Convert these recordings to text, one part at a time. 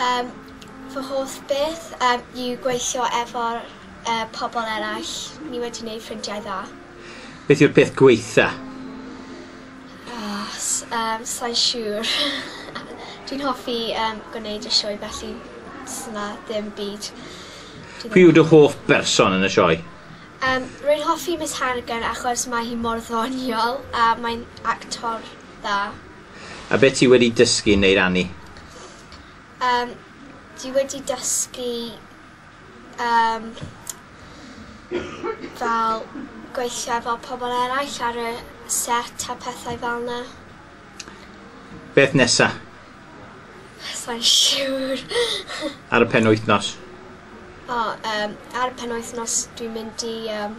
Yym fy hoff beth yym yw gweithio efo'r yy pobol eraill. Ni wedi neud ffrindiau dda. Beth yw'r peth gwaetha? Oh s- yym sai'n siŵr. Dwi'n hoffi yym gwneud y sioe felly sna ddim byd dwi ddim... Pwy yw dy hoff berson yn y sioe? Yym rwy'n hoffi Miss Hannigan achos mae hi mor ddoniol a mae'n actor dda. A be ti wedi dysgu neu rannu? Yym dwi wedi dysgu yym fel gweithio efo pobl eraill ar y set a pethau fel 'na. Beth nesa? Sai'n siŵr. Ar y penwythnos? O yym ar y penwythnos dwi'n mynd i yym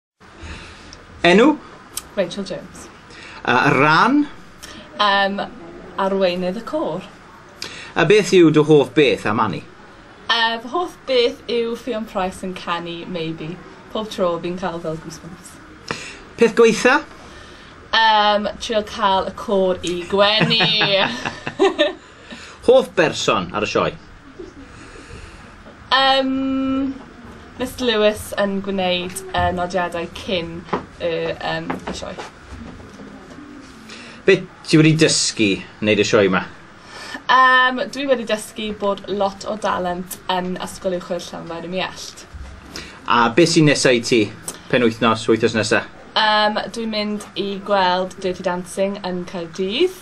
Enw? Rachel Jones. Uh, ran? Um, arweinydd y côr. A beth yw dy hoff beth am Annie? Uh, fy hoff beth yw Ffion Price yn canu Maybe. Pob tro fi'n cael fel goosebumps. Peth gweitha? Um, trio cael y côr i gwenu. Hoff berson ar y sioe? Yym Mister Lewis yn gwneud y nodiadau cyn y yym y sioe. Be ti wedi dysgu wneud y sioe ma? Yym dwi wedi dysgu bod lot o dalent yn Ysgol Uwchradd Llanfair ym Muallt. A be sy'n nesa i ti? Penwythnos, wythnos nesa? Yym dwi'n mynd i gweld Dirty Dancing yn Caerdydd.